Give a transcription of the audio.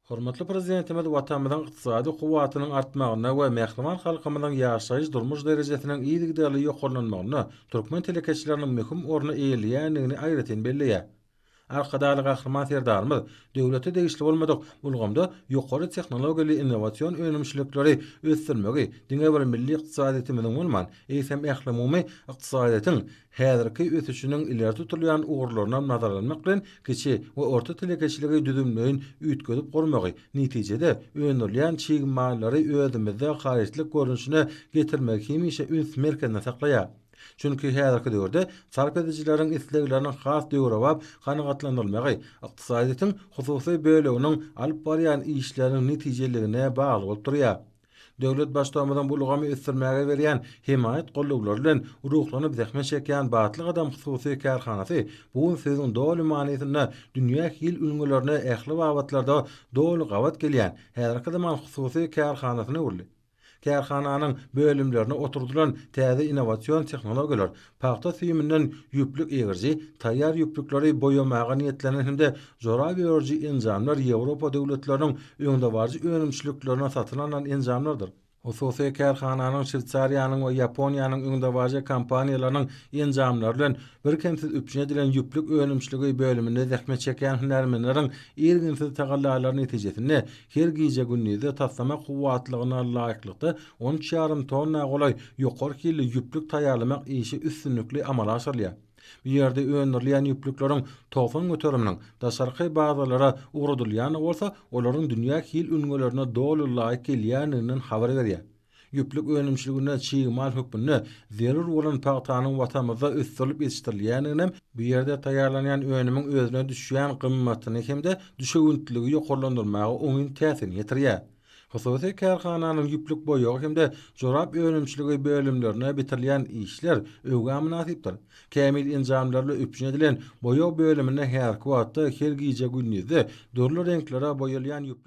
Hormatly Prezidentimiz Watanymyzyň ykdysady kuwwatynyň artmagyna we mähriban halkymyzyň ýaşaýyş-durmuş derejesiniň yzygiderli ýokarlanmagynda türkmen telekeçileriniň möhüm orny eýeleýändigini aýratyn belleýär. Arkadagly Gahryman Serdarymyz döwlete degişli bolmadyk ulgamda ýokary tehnologiýaly innowasion önümçilikleri ösdürmegi diňe bir milli ykdysadyýetimiziň bolman, eýsem, ählumumy ykdysadyýetiň häzirki ösüşiniň ileri tutulýan ugurlaryndan nazarlanmak bilen, kiçi we orta telekeçiligi düzümleýin üýtgedip gurmagy, netijede, öndürilýän çig mallary özümizde harytlyk görnüşine getirmegi hemişe üns merkezinde saklaýar. Çünki häzirki döwürde sarp edijileriň islegleriniň has döwrebap kanagatlandyrylmagy ykdysadyýetiň hususy böleginiň alyp barýan işleriniň netijeliligine bagly bolup durýar. Döwlet Baştutanymyzyň bu ulgamy ösdürmäge berýän hemaýat goldaglary bilen ruhlanyp zähmet çekýän Batly gadam hususy kärhanasy bu gün sözüň doly manysynda dünýä hil ülňülerine ähli babatlarda doly gabat gelýän häzirki zaman hususy kärhanasyna öwrüldi. Kärhananyň bölümlerine oturdylan täze innowasion tehnologiýalar Pagta süýüminden ýüplük egiriji, taýýar ýüplükleri boýamaga niýetlenen hem-de jorap örüji enjamlar Ýewropa döwletleriniň öňdebaryjy önümçiliklerine satyn alnan enjamlardyr. Hususy kärhananyň Şweýsariýanyň we Ýaponiýanyň öňdebaryjy kompaniýalarynyň enjamlary bilen birkemsiz üpjün edilen ýüplük önümçiligi bölüminde zähmet çekýän hünärmenleriň irginsiz tagallalary netijesinde Her gije-gündizde taslama kuwwatlygyna laýyklykda on üç ýarym tonna golaý ýokary hilli ýüplük taýýarlamak işi üstünlikli amala aşyrylýar. Bu ýerde öndürilýän ýüplükleriň togsan göteriminiň daşarky bazarlara ugradylýandygy bolsa olaryň dünýä hil ülňülerine doly laýyk gelýändiginden habar berýär. Ýüplük önümçiliginde çig mal hökmünde zerur bolan pagtanyň Watanymyzda ösdürilip ýetişdirilýändiginem, bu ýerde taýýarlanýan önümiň özüne düşýän gymmatyny hem-de düşewüntliligi ýokarlandyrmaga oňyn täsirini ýetirýär. Hususy kärhananyň ýüplük boýagy hem-de jorap önümçiligi bölümlerine bitirilýän işler öwgä mynasypdyr. Kämil enjamlarla üpjün edilen boýag bölüminde häzirki wagtda her gije-gündizde dürli reňklere boýalýan ýüplük.